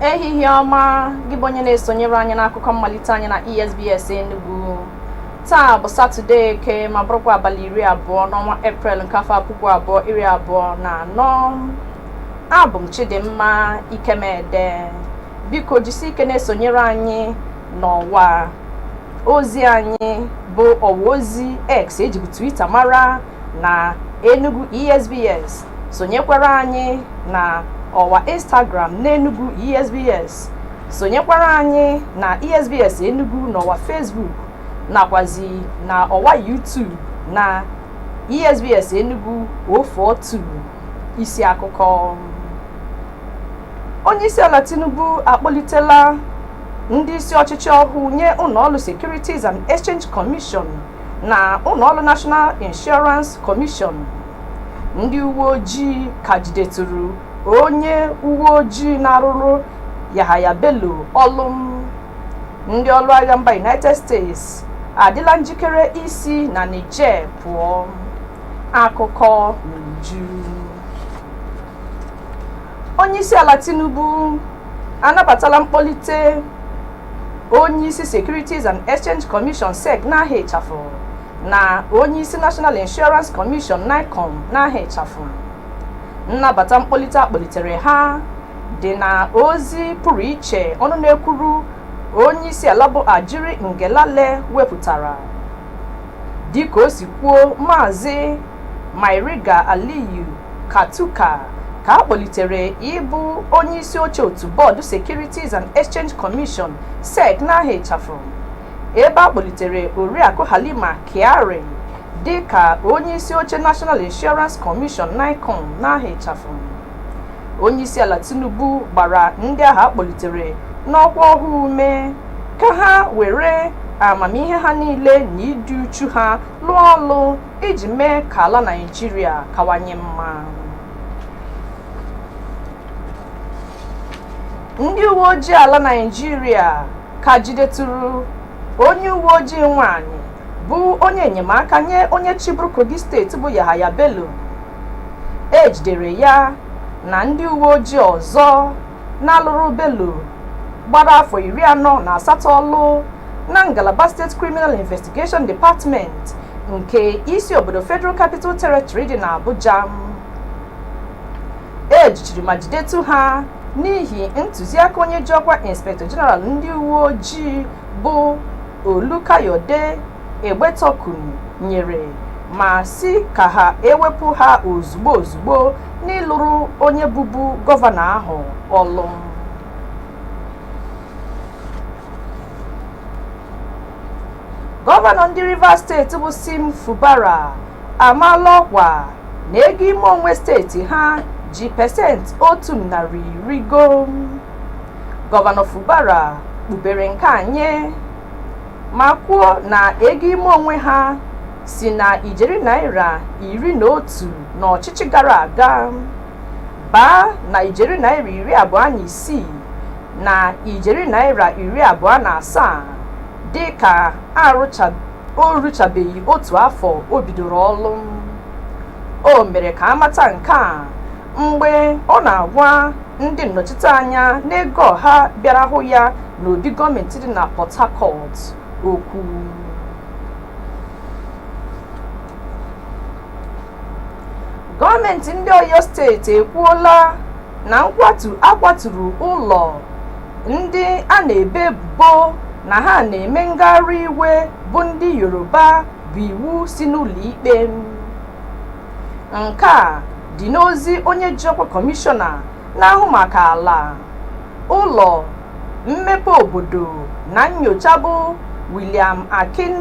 ehihie ọma gị bụ onye na-esonyere anyị n'akụkọ mmalite anyị na ESBS Enugu taa bụ satọde eke ma bụrụkwa abalị iri abụọ n'ọnwa eprel nke afọ puku abụọ iri abụọ na anọ abụ m Chidimma Ikemede biko jisi ike na-esonyere anyị n'ọwa ozi anyị bụ ọwa ozi x e jibu twitter mara na enugu esbs sonyekwara anyị na ọwa instagram n'enugu esbs sonyekwara anyị na esbs enugu n'ọwa facebook nakwazi na ọwa youtube na esbs enugu 042 isi akụkọ onyeisiala tinubu akpọlitela ndị isi ọchịchị ọhụụ nye ụlọọrụ securities and exchange commission na ụlọọrụ national insurance commission ndị uwe ojii ka jidetụrụ onye uwe ojii na-arụrụ yahaya bello ọlụ ndị ọrụ agha mba united states adịla njikere isi na niger pụọ akụkọ n'uju onyeisiala Tinubu anabatala mkpọlite onyeisi Securities and Exchange Commission SEC n'aha ịchafụ na onyeisi National Insurance Commission NICOM n'aha ịchafụ nnabata mkpọlite a kpọlitere ha dị na ozi pụrụ iche ọnụ na-ekwuru onye isi ala bụ Ajuri Ngelale wepụtara dịka o si kwuo maazị Mairiga Aliyu Katuka ka a kpọlitere ịbụ onye isi oche otu bọọdụ Securities and Exchange Commission SEC n'aha ịchafụ ebe a kpọlitere Oriakụ Halima Kyari dị ka onye isi oche National Insurance Commission NICOM n'aha ịchafụ onyeisiala Tinubu gbara ndị ahụ a kpọlitere n'ọkwa ọhụụ ume ka ha were amamihe ha niile na ịdị uchu ha lụọ ọlụ iji mee ka ala Naịjirịa kawanye mma. Ndị uwe ojii ala Naịjirịa ka jidetụrụ onye uwe ojii nwanyị bụ onye enyemaka nye onye chịburu Kogi steeti bụ Yahaya Bello. E jidere ya na ndị uwe ojii ọzọ na-alụrụ Bello gbara afọ iri anọ na asatọ ọlụ na ngalaba State Criminal Investigation Department nke isi obodo Federal Capital Territory dị na Abuja e jichiri ma jidetu ha n'ihi ntụziaka onye ji ọkwa Inspector General ndị uwe ojii bụ Olukayode Egbetokun nyere ma sị ka ha ewepụ ha ozugbo ozugbo n'ịlụrụ onye bụbu gọvanọ ahụ ọlụ. Gọvanọ ndị Rivers steeti bụ Sim Fubara amaala ọkwa na ego ime onwe steeti ha ji pesenti otu narị rigo. Gọvanọ Fubara kpughere nke a nye ma kwuo na ego ime onwe ha si na ijeri naira iri na otu n'ọchịchị gara aga baa na ijeri naira iri abụọ na isii na ijeri naira iri abụọ na asaa dị ka o ruchabeghị otu afọ o bidoro ọlụ o mere ka amata nke a mgbe ọ na-agwa ndị nnọchiteanya n'ego ọha bịara hụ ya n'obi gọọmenti dị na Port Harcourt okwu gọọmenti ndị Oyo steeti ekwuola na nkwatu a kwaturu ụlọ ndị a na-ebe ebubo na ha na-eme ngagharị iwe bụ ndị Yoruba bụ iwu si n'ụlọikpe nke a dị n'ozi onye ji ọkwa kọmishọna na-ahụ maka ala ụlọ mmepe obodo na nyocha bụ William Akin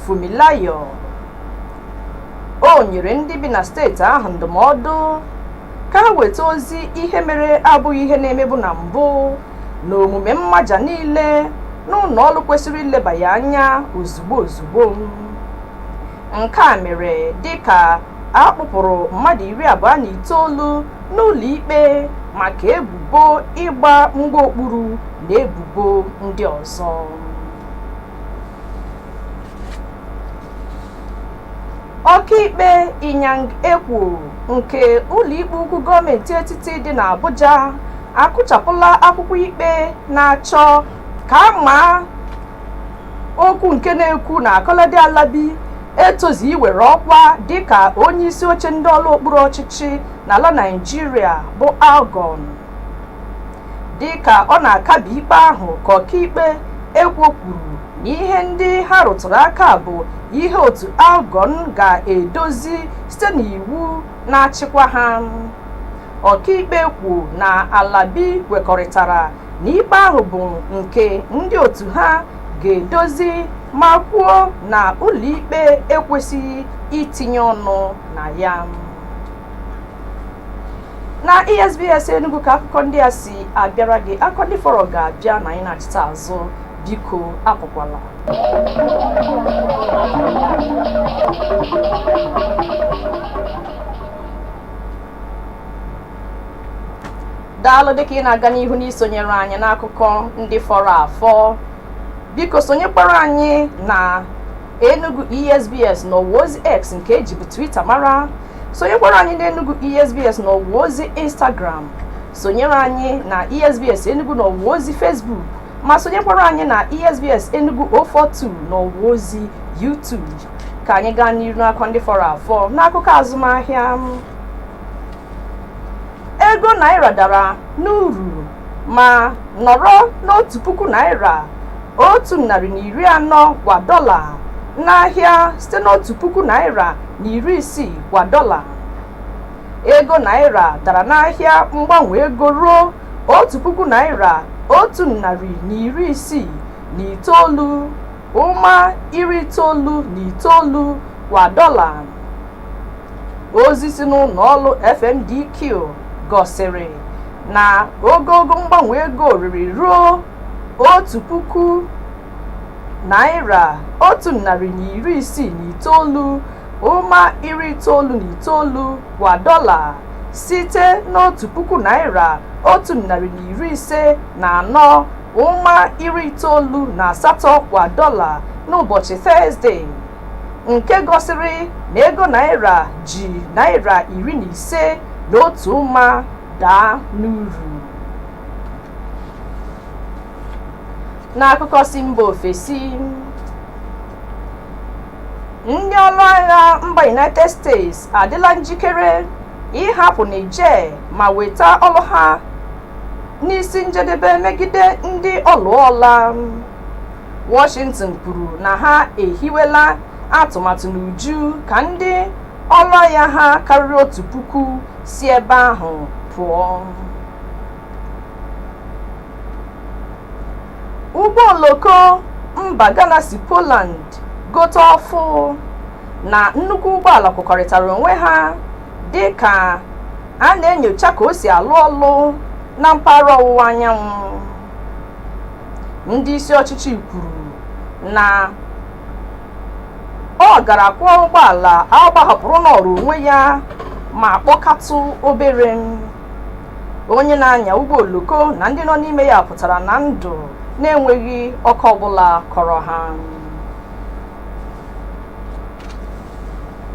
Funmilayo o nyere ndị bi na steeti ahụ ndụmọdụ ka ha weta ozi ihe mere abụghị ihe na-emebu na mbụ na omume mmaja niile n'ụlọ ọlụ kwesịrị ileba ya anya ozugbo ozugbo Nke a mere dịka a kpụpụrụ mmadụ iri abụọ na itoolu n'ụlọikpe maka ebubo ịgba mgba okpuru na ebubo ndị ọzọ. Ọkaikpe Inyang Ekwo nke ụlọikpe ukwu gọọmenti etiti dị n'Abuja akụchapụla akwụkwọ ikpe na-achọ ka a maa okwu nke na-ekwu na Kolade Alabi etozi iwere ọkwa dịka onye isi oche ndị ọlụ okpuru ọchịchị n'ala Naịjirịa bụ Algon dịka ọ na-akabi ikpe ahụ ka ọkaikpe Ekwo kwuru na ihe ndị ha rụtụrụ aka bụ ihe otu Algon ga-edozi site n'iwu na-achịkwa ha ọkaikpe Ekwo na Alabi kwekọrịtara na ikpe ahụ bụ nke ndị otu ha ga-edozi ma kwuo na ụlọikpe ekwesịghị itinye ọnụ na ya na esbs enugu ka akụkọ ndị a si abịara gị akụkọ ndị fọrọ ga-abịa ma anyị nachita azụ biko apụkwala daalụ dịka ị na-aga n'ihu n'isonyere anyị n'akụkọ ndị fọrọ afọ biko sonyekwara anyị na enugu esbs n'ọwa ozi x nke ejibu twitter mara sonyekwara anyị na enugu esbs n'ọwa ozi instagram sonyere anyị na esbs enugu n'ọwa ozi facebook ma sonyekwara anyị na esbs enugu 042 n'ọwa ozi youtube ka anyị gaa n'iru n'akụkọ ndị fọrọ afọ n'akụkọ azụmahịa ego naira dara n'uru ma nọrọ n'otu puku naira otu narị na iri anọ kwa dọla n'ahịa site n'otu puku naira na iri isii kwa dọla ego naira dara n'ahịa mgbanwe ego ruo otu puku naira otu narị na iri isii na itoolu Ụma iri itoolu na itoolu kwa dọla. Ozi si n'ụlọ ọrụ FMDQ gosiri na ogogo mgbanwe ego rịrị ruo otu puku naịra otu narị na iri isii na itoolu ụma iri itoolu na itoolu kwa dọla site n'otu puku naịra otu narị na iri ise na anọ ụma iri itoolu na asatọ kwa dọla n'ụbọchị Tọzdee nke gosiri na ego naira ji naira iri na ise na otu ụma daa n'uru. N'akụkọ si mba ofesi, ndị ọrụ agha mba United States adịla njikere ịhapụ Niger ma weta ọrụ ha n'isi njedebe megide ndị ọlụọla Washington kwuru na ha ehiwela atụmatụ n'uju ka ndị ọrụ agha ha karịrị otu puku si ebe ahụ pụọ ụgbọ oloko mba Ghana si Poland gote ọfụ na nnukwu ụgbọala kụkọrịtara onwe ha dị ka a na-enyocha ka o si alụ ọlụ na mpaghara ọwụwa anyanwụ ndị isi ọchịchị kwuru na ọ gara kwụọ ụgbọala agbahapụrụ nọọrọ onwe ya ma kpọkatụ obere onye na-anya ụgbọ oloko na ndị nọ n'ime ya pụtara na ndụ na-enweghị ọkọ ọbụla kọrọ ha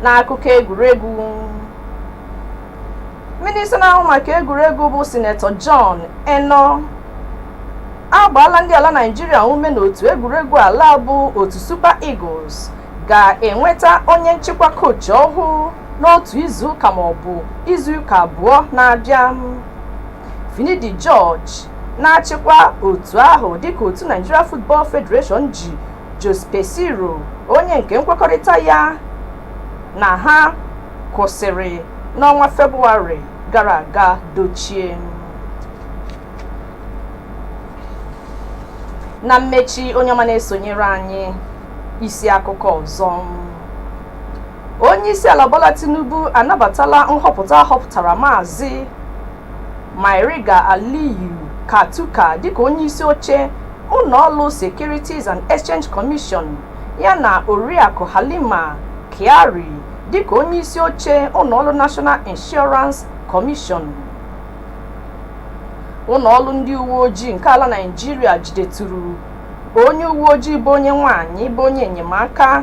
n'akụkọ egwuregwu minista na-ahụ maka egwuregwu bụ sinetọ John Enoh agbaala ndị ala Naịjirịa ume n'otu egwuregwu ala bụ otu Super Eagles ga-enweta onye nchịkwa kochi ọhụụ n'otu izu ụka ma ọ bụ izu ụka abụọ na-abịa Finidi George na-achịkwa otu ahụ dịka otu Nigeria Football Federation ji Jose Peseiro onye nke nkwekọrịta ya na ha kwụsịrị n'ọnwa Febụwarị gara aga dochie. Na mmechi onye ọma na-esonyere anyị isi akụkọ ọzọ. Onyeisiala Bola Tinubu anabatala nhọpụta a họpụtara Maazị Mairiga Aliyu Katuka dịka onyeisioche ụnọọlụ Securities and Exchange Commission yana Oriakụ Halima Kyari dịka onyeisioche ụnọọlụ National Insurance Commission. Ụnọọlụ ndị uweojii nke ala Naịjirịa jideturu onye uweojii bụ onye nwaanyị bụ onye enyemaka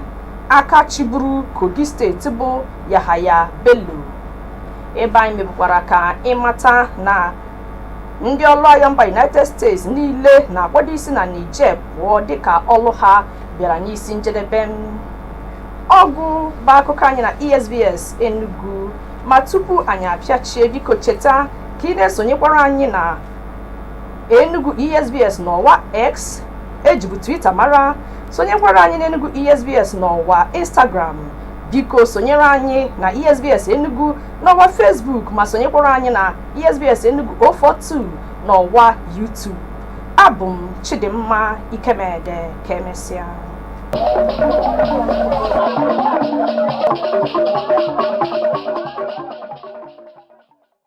aka chịburu Kogi steeti bụ Yahaya Bello ebe anyị mebukwara ka ị mata na ndị ọlụ agha mba united states niile na-akwado isi na niger pụọ dịka ọlụ ha bịara n'isi njedebe ọgụ bụ akụkọ anyị na esbs enugu ma tupu anyị apịachie biko cheta ka ị na-esonyekwara anyị na enugu esbs n'ọwa x ejibu twitter mara sonyekwara anyị n'enugu esbs n'ọwa instagram biko sonyere anyị na esbs enugu n'ọwa facebook ma sonyekwara anyị na esbs enugu 042 n'ọwa youtube abụ m chidimma ikemede ka emesịa